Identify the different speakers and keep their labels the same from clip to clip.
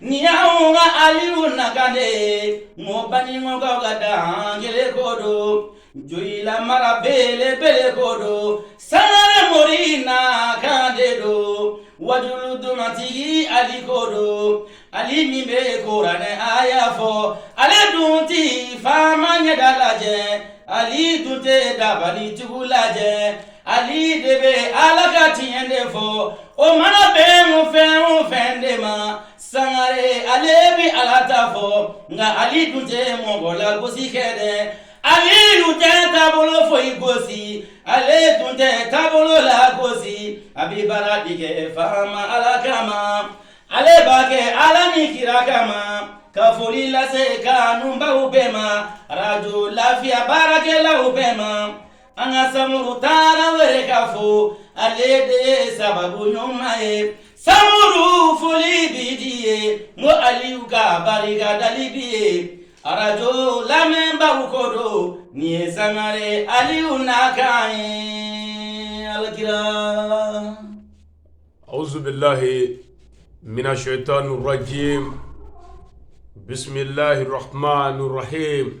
Speaker 1: Nin y'anw ka Aliyu nakan de ye, n ko Banikɔkaw ka dankelen ko don, Joyila mara belebele ko don, Sangare mori nakan de don, wajuli dumantigi Ali ko don, Ali min bɛ kuranɛ aya fɔ, ale dun tɛ faama ɲɛda lajɛ, Ali dun tɛ dabalitigi lajɛ. ali de bɛ ala ka tiɲɛ de fɔ o mana bɛn o fɛn o fɛn de ma sangare ale bɛ ala ta fɔ nka ali dun tɛ mɔgɔ lagosi kɛ dɛ ali dun tɛ taabolo foyi gosi ale dun tɛ taabolo lagosi a bɛ baara de kɛ faama ala kama ale b'a kɛ ala ni kira kama ka foli lase kanubaw bɛɛ ma arajo lafiya baarakɛlaw bɛɛ ma. An ka Samuru Tarawele ka fo ale de ye sababu ɲuman ye Samuru foli b'i de ye n ko Aliyu ka barikadali b'i ye arajo lamɛnbaw ko don nin ye Sangare Aliyu nakan ye alakira
Speaker 2: awuzu bilahi mina shɛyitani rajimi bisimilahi rahamani rahimi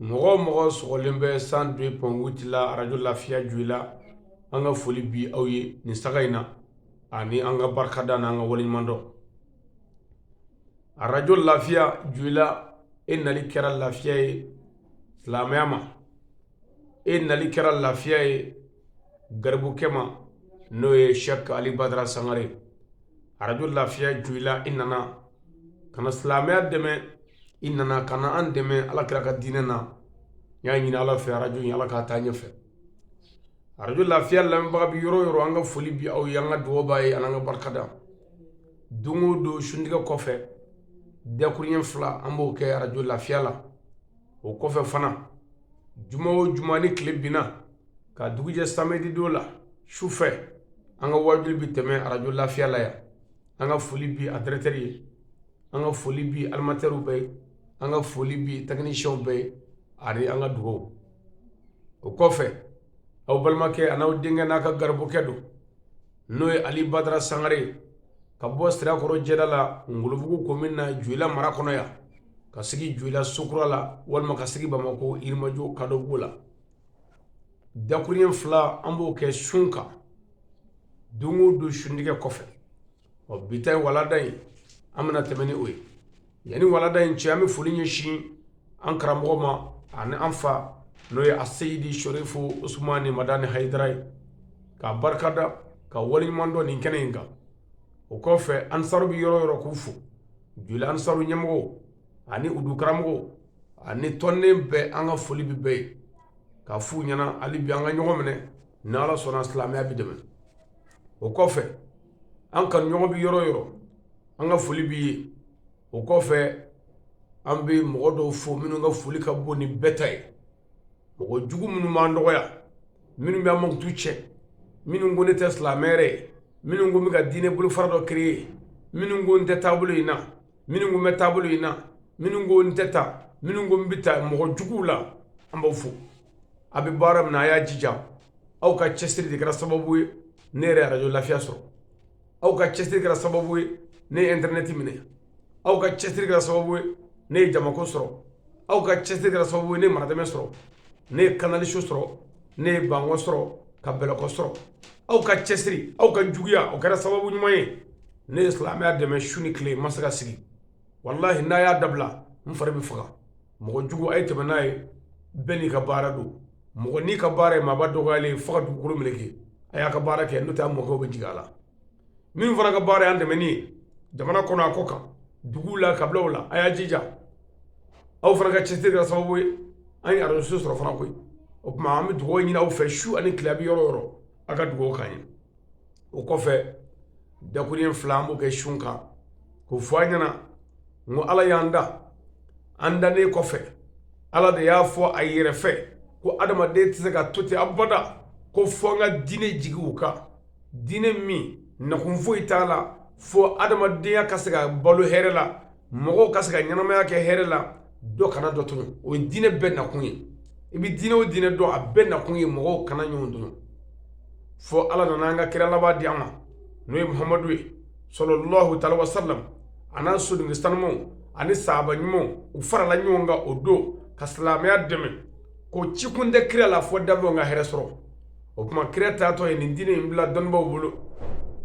Speaker 2: mɔgɔ o mɔgɔ sɔgɔlen bɛ cent deux point huit la arajo lafiya joyila an ka foli bi aw ye nin sanga in na ani an ka barikada n' an ka waleɲumandɔn arajo lafiya joyila e nali kɛra lafiya ye silamɛya ma e nali kɛra lafiya ye garibukɛ ma n'o ye sɛk ali badara sangare arajo lafiya joyila i nana ka na silamɛya dɛmɛ i nana ka na an dɛmɛ ala kira ka diinɛ na n y'a ɲini ala fɛ arajo in ala k'a taa ɲɛfɛ arajo lafiya lamɛnbaga bi yɔrɔ o yɔrɔ an ka foli bi aw ye an ka dugawu b'aw ye an'an ka barikada don o don suntigɛ kɔfɛ dakuruɲɛ fila an b'o kɛ arajo lafiya la o kɔfɛ fana juma o juma ni tile binna ka dugujɛ samedi don la su fɛ an ka wajuli bi tɛmɛ arajo lafiya la yan an ka foli bi a dɛrɛtɛri ye an ka foli bi alimatɛriw bɛɛ ye an ka foli bi tɛkinisiyɛnw bɛɛ ye ani an ka dugawu o kɔfɛ aw balimakɛ an'aw denkɛ n'a ka garibukɛ don n'o ye ali badara sangare ye ka bɔ sirakɔrɔ jɛda la ngolobugu komin na joyila mara kɔnɔ yan ka sigi joyila sokura la walima ka sigi bamako yirimajo kadɔbugu la dakuruɲɛ fila an b'o kɛ sun kan don o don suntigɛ kɔfɛ ɔ bi ta ye walada ye an bɛna tɛmɛ ni o ye yanni walada in cɛ an bɛ foli ɲɛsin an karamɔgɔ ma ani an fa n'o ye aseyidi sorifu usumani madani hayidara ye k'a barikada k'a waleɲuman dɔn nin kɛnɛ in kan o kɔfɛ ansaru bɛ yɔrɔ o yɔrɔ k'u fo joli ansaru ɲɛmɔgɔw ani u dukaramɔgɔw ani tɔnden bɛɛ an ka foli bɛ bɛɛ ye ka f'u ɲɛna hali bi an ka ɲɔgɔn minɛ ni ala sɔnna silamɛya bɛ dɛmɛ o kɔfɛ an ka ɲɔgɔn bɛ yɔrɔ o yɔrɔ an ka foli b'i ye o kɔfɛ an bɛ mɔgɔ dɔw fo minnu ka foli ka bon ni bɛɛ ta ye mɔgɔ jugu minnu b'an dɔgɔya minnu bɛ an mankutu cɛn minnu ko ne tɛ silamɛ yɛrɛ ye minnu ko n bɛ ka diinɛ bolofara dɔ kereye minnu ko n tɛ taabolo in na minnu ko n bɛ taabolo in na minnu ko n tɛ taa minnu ko n bɛ taa mɔgɔ juguw la an b'aw fo a bɛ baara min na a y'a jija aw ka cɛsiri de kɛra sababu ye ne ye arajo lafiya sɔrɔ aw ka cɛsiri kɛra sababu ye ne ye intɛrɛnɛti minɛ aw ka cɛsiri kɛra sababu ye ne ye jamako sɔrɔ aw ka cɛsiri kɛra sababu ye ne ye maradɛmɛ sɔrɔ ne ye kanali sɔrɔ ne ye bankɔ sɔrɔ ka bɛlɛkɔ sɔrɔ aw ka cɛsiri aw ka juguya o kɛra sababu ɲuman ye ne ye silamɛya dɛmɛ su ni tile n ma se ka sigi walahi n'a y'a dabila n fari bɛ faga mɔgɔ jugu a ye tɛmɛ n'a ye bɛɛ n'i ka baara don mɔgɔ n'i ka baara ye maaba dɔgɔyalen fo ka dugukolo meleke a y'a ka baara kɛ n'o tɛ a mɔkɛw bɛ jigin a la min fana ka baara y'an dɛmɛni ye jamana kɔnɔ a kɔkan duguw la kabilaw la a y'a jija aw fana ka cɛsiri kɛra sababu ye an ye arajo sɔrɔ fana koyi o tuma an bɛ dugawu ɲini aw fɛ su ani tile a bɛ yɔrɔ o yɔrɔ a ka dugawu k'an ye o kɔfɛ dakurunɲɛ fila an b'o kɛ sun kan k'o fɔ aw ɲɛna n ko ala y'an da an dannen kɔfɛ ala de y'a fɔ a yɛrɛ fɛ ko adamaden tɛ se ka to ten abada ko fo n ka diinɛ jigin u kan diinɛ min nakun foyi t'a la fo adamadenya ka se ka balo hɛrɛ la mɔgɔw ka se ka ɲɛnamaya kɛ hɛrɛ la dɔ kana dɔ tɔɲɔ o ye diinɛ bɛɛ nakun ye i bɛ diinɛ o diinɛ dɔn a bɛɛ nakun ye mɔgɔw kana ɲɔgɔn tɔɲɔ fo ala nana an ka kira laban di an ma n'o ye muhamadu ye sallallahu taala wa sallam a n'a sodenkɛ sanumanw ani sahaba ɲumanw u farala ɲɔgɔn kan o don ka silamɛya dɛmɛ ko cikun tɛ kira la fo danfɛnw ka hɛrɛ sɔrɔ o tuma kira taatɔ ye nin diinɛ in bila dɔnnibaw bolo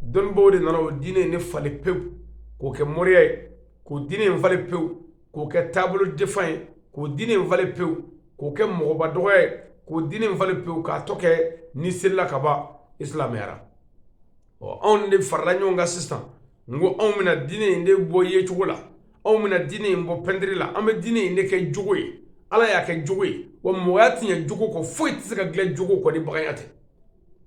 Speaker 2: dɔnnibaw de nana o diinɛ in ne falen pewu k'o kɛ moriya ye k'o diinɛ in falen pewu k'o kɛ taabolo defan ye k'o diinɛ in falen pewu k'o kɛ mɔgɔba dɔgɔya ye k'o diinɛ in falen pewu k'a tɔ kɛ n'i selila ka ban i silamɛyara ɔ anw de farala ɲɔgɔn kan sisan n ko anw bɛna diinɛ in de bɔ yecogo la anw bɛna diinɛ in bɔ pɛntiri la an bɛ diinɛ in de kɛ jogo ye ala y'a kɛ jogo ye wa mɔgɔya tɛ ɲɛ jogo kɔ foyi tɛ se ka dilan jogo kɔ ni baganya tɛ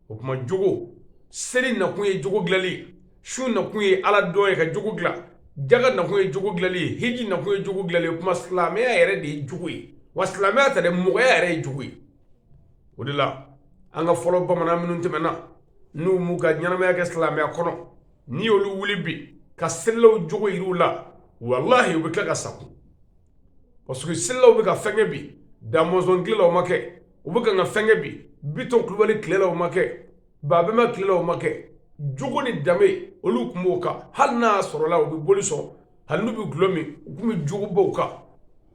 Speaker 2: o tuma jogo seli nakun ye jogo dilanli ye sun nakun ye ala dɔn ye ka jogo dilan jaga nakun ye jogo dilanli ye hiji nakun ye jogo dilanli ye o tuma silamɛya yɛrɛ de ye jogo ye wa silamɛya tɛ dɛ mɔgɔya yɛrɛ ye jogo ye o de la an ka fɔlɔ bamanan minnu tɛmɛna n'u m'u ka ɲɛnamaya kɛ silamɛya kɔnɔ n'i y'olu wuli bi ka selilaw jogo yir'u la walahi u bɛ tila ka sa tugun parce que selilaw bɛ ka fɛn kɛ bi damɔzɔn tile la o ma kɛ u bɛ kan ka fɛn kɛ bi bitɔn kulubali tile la o ma kɛ babɛma tile la o ma kɛ jogo ni danbe olu tun b'o kan hali n'a sɔrɔla u bɛ boli sɔn hali n'u bɛ gulɔ min u tun bɛ jogobaw kan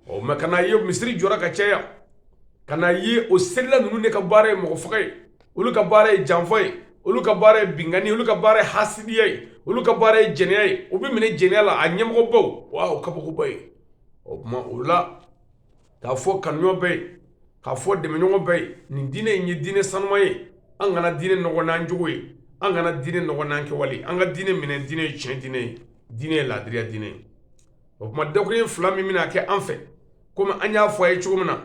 Speaker 2: mɛ ka n'a ye misiri jɔra ka caya ka n'a ye o selila ninnu de ka baara ye mɔgɔ faga ye olu ka baara ye janfa ye olu ka baara ye binkanni olu ka baara ye hasidiya ye olu ka baara ye jɛnɛya ye u bɛ minɛ jɛnɛya la a ɲɛmɔgɔbaw kabakoba ye o tuma o la k'a fɔ kanuɲɔgɔn bɛ yen k'a fɔ dɛmɛɲɔgɔn bɛ yen nin diinɛ in ye diinɛ sanuman ye an kana diinɛ nɔgɔ n'an jogo ye an kana diinɛ nɔgɔ n'an kɛwale an ka diinɛ minɛ diinɛ ye tiɲɛ diinɛ ye diinɛ ye laadiriya diinɛ ye o tuma dakuruɲɛ fila min bɛna kɛ an fɛ komi an y'a fɔ a ye cogo min na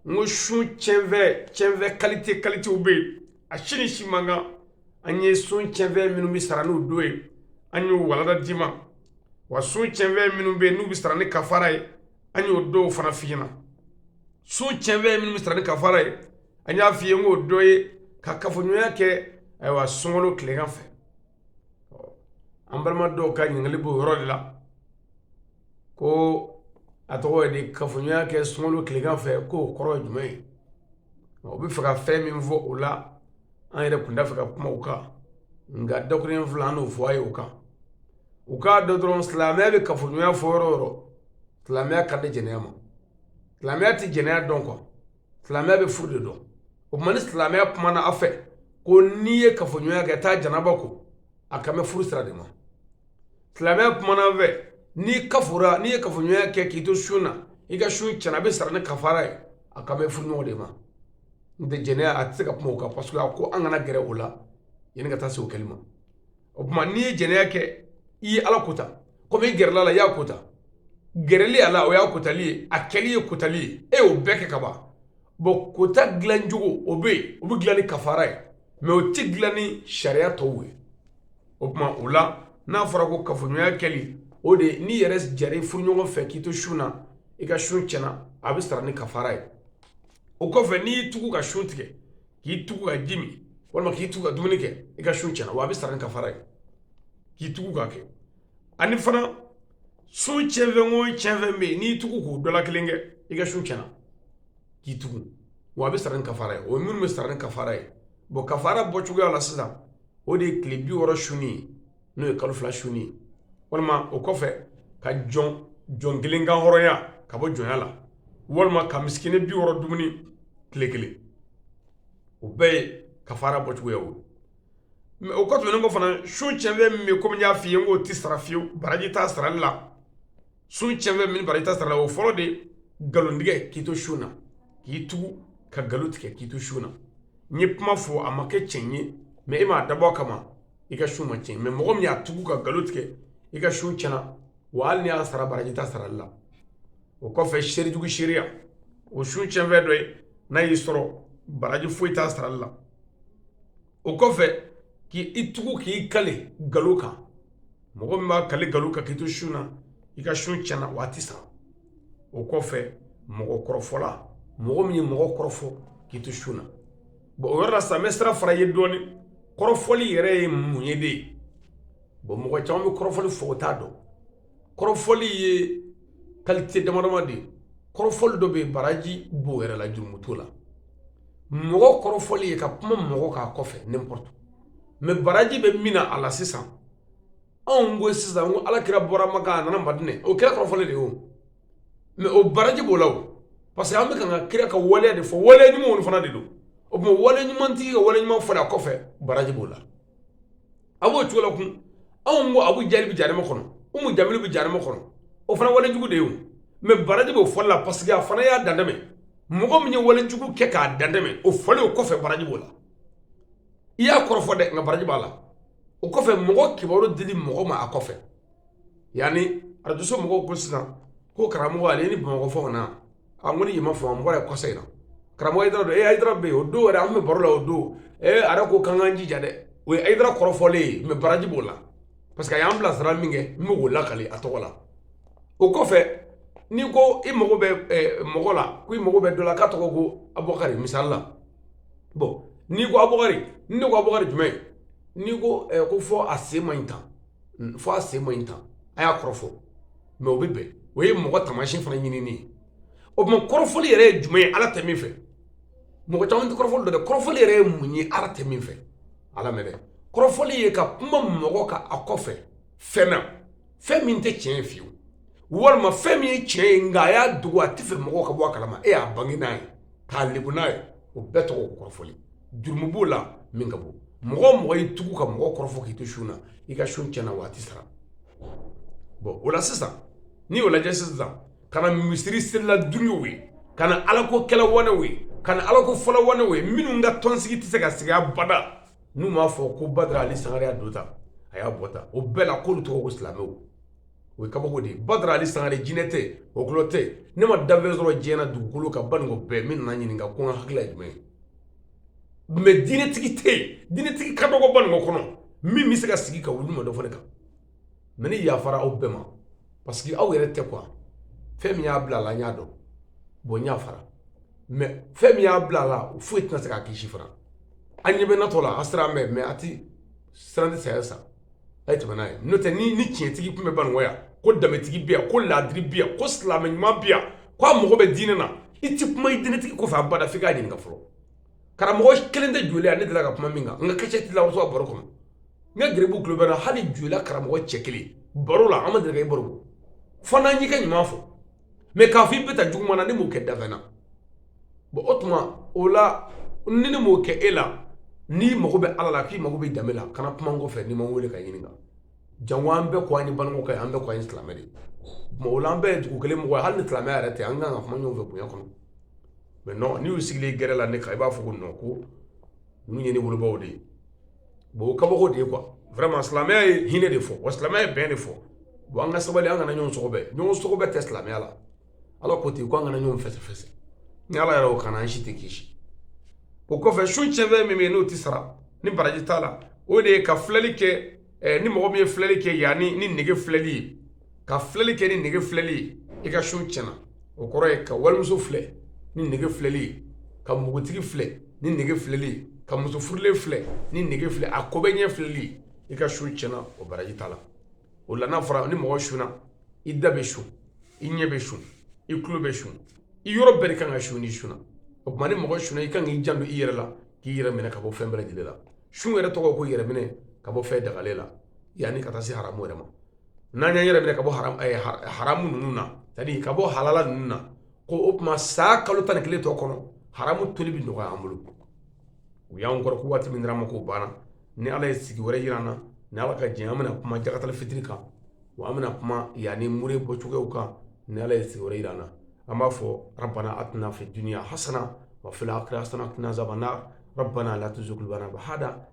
Speaker 2: n ko sun cɛnfɛn cɛnfɛn kalite kalitew bɛ yen a si ni si man kan an ye sun cɛnfɛn minnu bɛ sara n'u don ye an y'o walanda d'i ma wa sun cɛnfɛn minnu bɛ yen n'u bɛ sara ni kafara ye an y'o dɔw fana f'i ɲɛna sun cɛnfɛn minnu bɛ sara ni kafara ye an y'a f'i ye n k'o dɔ ye ka kafoɲɔgɔnya kɛ ayiwa sunkalo tilegan fɛ an balima dɔw ka ɲininkali b'o yɔrɔ de la ko a tɔgɔ ye di kafoɲɔgɔnya kɛ sunkalo tilegan fɛ k'o kɔrɔ ye jumɛn ye o b'a fɛ ka fɛn min fɔ o la an yɛrɛ tun t'a fɛ ka kuma o kan nka dakuruɲɛ fila an n'o fɔ a ye o kan u k'a dɔn dɔrɔn silamɛya bɛ kafoɲɔgɔnya fɔ yɔrɔ o yɔrɔ silamɛya kan tɛ jɛnɛya ma silamɛya tɛ jɛnɛya dɔn kuwa silamɛya bɛ furu de dɔn o tuma ni silamɛya kumana aw fɛ ko n'i ye kafoɲɔgɔnya kɛ taa janaba ko a kan bɛ furu sira de ma silamɛya kumana aw fɛ n'i kafora n'i ye kafoɲɔgɔnya kɛ k'i to sun na i ka sun cɛnna a bɛ sara ni kafara ye a kan bɛ furuɲɔgɔn de ma n tɛ jɛnɛya a tɛ se ka kuma o kan parce que a ko an kana gɛrɛ o la yanni ka taa se o kɛli ma o tuma n'i ye jɛnɛya kɛ i ye ala kota komi i gɛrɛl'a la i y'a kota gɛrɛli a la o y'a kotali ye a kɛli ye kotali ye e y'o bɛɛ kɛ ka ban bɔn kota dilancogo o bɛ yen o bɛ dilan ni kafara ye mɛ o tɛ dilan ni sariya tɔw ye o tuma o la n'a fɔra ko kafoɲɔgɔnya kɛli o de ye n'i yɛrɛ jɛr'i furuɲɔgɔn fɛ k'i to sun na i ka sun tiɲɛna a bɛ sara ni kafara ye o kɔfɛ n'i y'i tugu ka sun tigɛ k'i tugu ka ji min walima k'i tugu ka dumuni kɛ i ka sun tiɲɛna wa a bɛ sara ni kafara ye k'i tugu k'a kɛ ani fana sun tiɲɛfɛn o tiɲɛfɛn bɛ yen n'i tugu k'o dɔ la kelen kɛ i ka sun tiɲɛna k'i tugu wa a bɛ sara ni kafara ye o ye minnu bɛ sara ni kafara ye bon kafara bɔcogoya la sisan o de ye tile bi wɔɔrɔ sunni ye n'o ye kalo fila sunni ye walima o kɔfɛ ka jɔn jɔn kelen kan hɔrɔnya ka bɔ jɔnya la walima ka misikini bi wɔɔrɔ dumuni tile kelen o bɛɛ ye kafara bɔcogoya o mɛ o kɔ tɛmɛnen kɔ fana sun cɛnfɛn min bɛ komi n y'a f'i ye n k'o tɛ sara fiyewu baraji t'a sarali la sun cɛnfɛn min baraji t'a sarali la o fɔlɔ de nkalontigɛ k'i to sun na k'i tugu ka nkalon tigɛ k'i to sun na n'i ye kuma fɔ a ma kɛ tiɲɛ ye mɛ e m'a dabɔ a kama i ka sun ma tiɲɛ mɛ mɔgɔ min y'a tugu ka nkalon tigɛ i ka sun tiɲɛna wa hali n'i y'a sara baraji t'a sarali la o kɔfɛ seerejugu seereya o sun tiɲɛfɛn dɔ ye n'a y'i sɔrɔ baraji foyi t'a sarali la o kɔfɛ k'i tugu k'i kale galon kan mɔgɔ min b'a kale galon kan k'i to sun na i ka sun tiɲɛna wa a tɛ sara o kɔfɛ mɔgɔ kɔrɔfɔla mɔgɔ min ye mɔgɔ kɔrɔfɔ k'i to sun na bon o yɔrɔ la sisan n bɛ sira fara i ye dɔɔni kɔrɔfɔli yɛrɛ ye mun ye de ye bon mɔgɔ caman bɛ kɔrɔfɔli fɔ o t'a dɔn kɔrɔfɔli ye kalite damadama de ye kɔrɔfɔli dɔ bɛ yen baraji b'o yɛrɛ la jurumu t'o la mɔgɔ kɔrɔfɔli ye ka kuma mɔgɔ k'a kɔfɛ n'importe mɛ baraji bɛ min na a la sisan anw ko sisan ko alakira bɔra maka a nana madinɛ o kɛra kɔrɔfɔli de ye o mɛ o baraji b'o la o parce que an bɛ ka ka kira ka waleya de fɔ waleya ɲumanw fana de don o tuma waleya ɲumantigi ka waleya ɲuman fɔli a kɔfɛ baraji b'o la a b'o cogo la kun anw ko abu jahili bɛ jahanama kɔnɔ umu jamilu bɛ jahanama kɔnɔ o fana wale jugu de ye o mɛ baraji b'o fɔli la parce que a fana y'a dantɛmɛ mɔgɔ min ye wale jugu kɛ k'a dantɛmɛ o fɔli o kɔfɛ baraji b'o la i y'a kɔrɔfɔ dɛ nka baraji b'a la o kɔfɛ mɔgɔ kibaru dili mɔgɔ ma a kɔfɛ yani arajoso mɔgɔw ko sisan ko karamɔgɔ ale ni bamakɔ fɔ na a ko ni yɛlɛma fɔ mɔgɔ ye kɔsa in na karamɔgɔ ayidara don e ayidara bɛ yen o don yɛrɛ an bɛ baro la o don ee ara ko k'an k'an jija dɛ o ye ayidara kɔrɔfɔlen ye mɛ baraji b'o la parce que a y'an bilasira min kɛ n bɛ k'o lakali a tɔgɔ la o kɔfɛ n'i ko i mago bɛ mɔgɔ la ko i mago bɛ dɔ la k'a tɔgɔ ko abubakari misali la bon n'i ko abubakari ni ne ko abubakari jumɛn n'i ko ko fɔ a sen man ɲi tan fɔ a sen man ɲi tan a y'a kɔrɔfɔ mɛ o bɛ bɛn o ye mɔgɔ taamasiyɛn fana ɲinini ye o tuma kɔrɔfɔli yɛrɛ ye jumɛn ye ala tɛ min fɛ mɔgɔ caman tɛ kɔrɔfɔli dɔn dɛ kɔrɔfɔli yɛrɛ ye mun ye ala tɛ min fɛ a lamɛn dɛ kɔrɔfɔli ye ka kuma mɔgɔ kan a kɔfɛ fɛn na fɛn min tɛ tiɲɛ ye fiyewu walima fɛn min ye tiɲɛ ye nka a y'a dogo a tɛ fɛ mɔgɔw ka bɔ a kalama e y'a bange n'a ye k'a lebu n'a ye o bɛɛ tɔgɔ ko kɔrɔfɔli jurumu b'o la min ka bon mɔgɔ o mɔgɔ y'i tugu ka mɔgɔ kɔrɔfɔ k'i to sun na i ka sun tiɲɛna wa a tɛ sara bon o la sisan n'i y'o lajɛ sisan ka na misiri selila dungew ye ka na alako kɛla wanew ye ka na alako fɔla wanew ye minnu ka tɔnsigi tɛ se ka sigi abada n'u m'a fɔ ko badara ali sangare y'a don tan a y'a bɔ tan o bɛɛ la k'olu tɔgɔ ko silamɛw o ye kabako de ye badara ali sangare jinɛ tɛ wɔkulɔ tɛ ne ma dafɛn sɔrɔ diɲɛ na dugukolo kan baninkɔ bɛɛ min nana n ɲininka ko n ka hakilila ye jumɛn ye mais diinɛtigi tɛ yen diinɛtigi ka dɔgɔ baninkɔ kɔnɔ min bɛ se ka sigi ka wuli ma dɔ fɔ ne kan mais ne yafara aw bɛɛ ma parce que aw yɛrɛ tɛ quoi fɛn min y'a bila a la n y'a dɔn bon n yafara mais fɛn min y'a bila a la foyi tɛna se k'a kisi fana an ɲɛ bɛ natɔ la a sira an bɛɛ mais a ti siran tɛ saya sa a ye tɛmɛ n'a ye n'o tɛ ni tiɲɛtigi tun bɛ baninkɔ yan ko danbetigi bi yan ko laadiri bi yan ko silamɛ ɲuman bi yan ko a mago bɛ diinɛ na i tɛ kuma i diinɛtigi kɔfɛ abada f'i k'a ɲininka fɔlɔ karamɔgɔ kelen tɛ joyila ne deli ka kuma min kan n ka kasɛti la muso a baro kɔnɔ n ka garibu tulo bɛ n na hali joyila karamɔgɔ cɛ kelen baro la an ma deli ka i baro fo n'an y'i ka ɲuman fɔ mais k'a fɔ i bɛ taa juguman na ne m'o kɛ dafɛn na bon o tuma o la ni ne m'o kɛ e la n'i mago bɛ ala la k'i mago bɛ danbe la kana kuma n kɔfɛ n'i ma n wele ka n ɲininka jango an bɛɛ ko an ye balima kɛ an bɛɛ ko an ye silamɛ de mais o la an bɛɛ ye dugu kelen mɔgɔ ye hali ni silamɛya yɛrɛ tɛ an kan ka kuma ɲɔgɔn fɛ bonya kɔnɔ mais n'i y'u sigilen gɛrɛ la ne kan i b'a fɔ ko non ko ninnu ye ne wolobaw de ye bon o kabako de ye quoi vraiment silamɛya ye hinɛ de fɔ wa silamɛya ye bɛn de fɔ bon an ka sabali an kana ɲɔgɔn sɔgɔbɛ ɲɔgɔn sɔgɔbɛ tɛ silamɛya la ala ko ten ko an kana ɲɔgɔn fɛsɛfɛsɛ ni ala yɛrɛ y'o k'an na an si tɛ kisi o kɔfɛ sun tiɲɛfɛn min bɛ yen n'o tɛ sara ni baraji t'a la o de ye ka filɛli kɛ ni mɔgɔ min ye filɛli kɛ yanni ni nege filɛli ye ka filɛli kɛ ni nege filɛli ye i ka sun tiɲɛna o kɔrɔ ye ka walimuso filɛ ni nege filɛli ye ka npogotigi filɛ ni nege filɛli ye ka muso furulen filɛ ni nege filɛ a ko bɛ ɲɛ filɛli ye i ka sun tiɲɛna o baraji t'a la o la n'a fɔra ni mɔgɔ sunna i da bɛ sun i ɲɛ bɛ sun i tulo bɛ sun i yɔrɔ bɛɛ de kan ka sun n'i sunna o tuma ni mɔgɔ sunna i kan k'i janto i yɛrɛ la k'i yɛrɛ minɛ ka bɔ fɛn bɛɛ lajɛlen la sun yɛrɛ tɔgɔ ko yɛrɛ minɛ ka bɔ fɛn dagalen la yanni ka taa se haramu yɛrɛ ma N'an y'an yɛrɛ minɛ ka bɔ haramu ninnu na ka bɔ halala ninnu na ko o tuma sa kalo tan ni kelen tɔ kɔnɔ haramu toli bɛ nɔgɔya an bolo u y'an kɔrɔ waati min dira an ma k'o banna ni ala ye sigi wɛrɛ jira an na ni ala ka jɛn an bɛna kuma jakata fitiri kan wa an bɛna kuma yanni mure bɔ cogoyaw kan ni ala ye sigi wɛrɛ jira an na an b'a fɔ rabbana atina fi dunya hasana wa fil akhirati hasana wa qina azaban nar rabbana la tuzigh